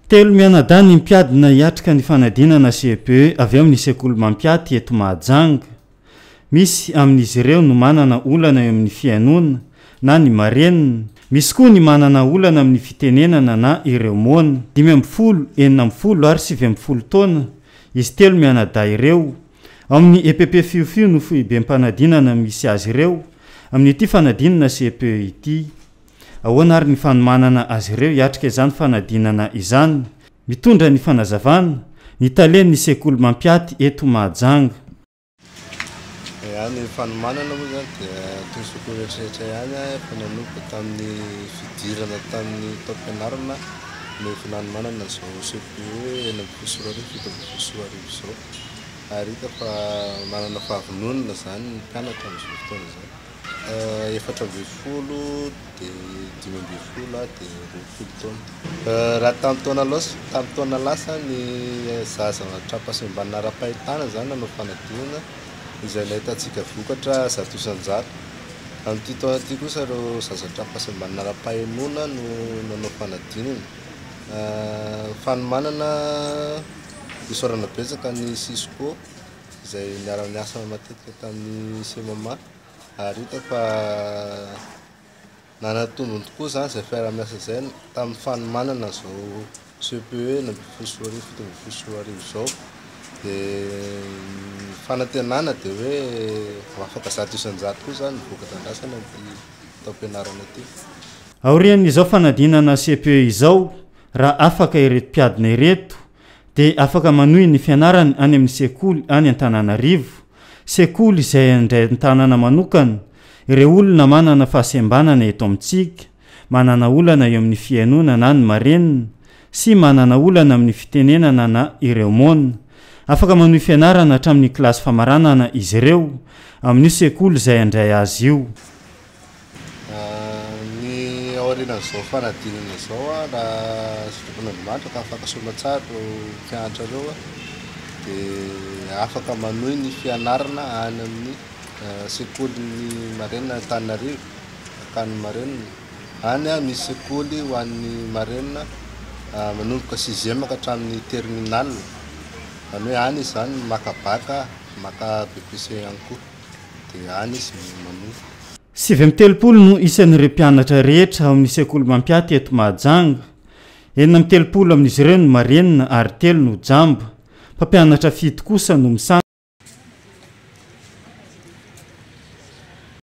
Telo mianadahy ny mpiadina hiatrika ny fanadinana CEPE avy amin'ny sekoly Mampiaty eto Mahajanga. Misy amin'izy ireo no manana olana eo amin'ny fihainoana na ny marenina, misy koa ny manana olana amin'ny fitenenana na ireo moana. Dimy ambin'ny folo, enina ambin'ny folo ary sivy ambin'ny folo taona izy telo mianadahy ireo Ao amin'ny epp Fiofio no foibem-panadinana misy azy ireo amin'ity fanadinana cepe ity. Ahoana ary ny fanomanana azy ireo hiatrika izany fanadinana izany? Mitondra ny fanazavana, ny talen'ny sekoly mampiaty eto Mahajanga. Ia, ny fanomanana moa izany dia atosiko ho eritreretra ihany aho fa nanomboka tamin'ny fidirana tamin'ny taom-pianarana no efa nanomanana izao cepe enina ambin'ny folo sy roa arivo, fito ambin'ny folo sy roa arivo izao. ary hita fa manana fahavononana izany ny mpianatra amin'izao fotoana izao. Efatra ambin'ny folo, dia dimy ambin'ny folo aho dia roapolo taona. Raha tamin'ny taona lasa, tamin'ny taona lasa ny zaza an-trampahasembana ara-pahitana izany nanao fanadinana izay nahitantsika vokatra zato isan-jato. Amin'ity taona ity kosa ireo zaza an-trampahasembana ara-pahenoana no nanao fanadinana. Fanomanana. Isaorana betsaka ny Cisco izay niara-niasa matetika tamin'ny CMMA ary hita fa nanatombony tokoa izany izay fiara-miasa izay tamin'ny fanomanana izao CPE enina ambin'ny folo sy roa arivo fito ambin'ny folo sy roa arivo izao. Dia ny fanantenana dia hoe ho afaka zato isan-jato koa izany ny voka-drandrasana amin'ity taom-pianarana ity. Aorian'izao fanadinana CPE izao, Raha afaka ireto mpiadina ireto dia afaka manohy ny fianarany any amin'ny sekoly any Antananarivo, sekoly izay handray an-tanana manokana ireo olona manana fahasembanana eto amintsika, manana olana eo amin'ny fihainoana na ny marenina sy manana olana amin'ny fitenenana na ireo moana. Afaka manohy fianarana hatramin'ny kilasy famaranana izy ireo amin'io sekoly izay handray azy io. Ny aorianan'izao fanadinana izao raha zokin'Andriamanitra ka afaka soa tsara ireo mpianatra ireo dia afaka manohy ny fianarana any amin'ny sekolin'ny marenina Antananarivo, Ankany marenina. Any misy sekoly ho an'ny marenina manomboka sixième ka hatramin'ny terminale, izany hoe any izany maka bacc, maka BEPC ihany koa. dia any izy no manofa. Sivy amby telopolo no isan'ireo mpianatra rehetra ao amin'ny sekoly Mampiaty eto Mahajanga. Enina amby telopolo amin'izy ireo no marenina ary telo no jamba. Mpampianatra fito kosa no misahana.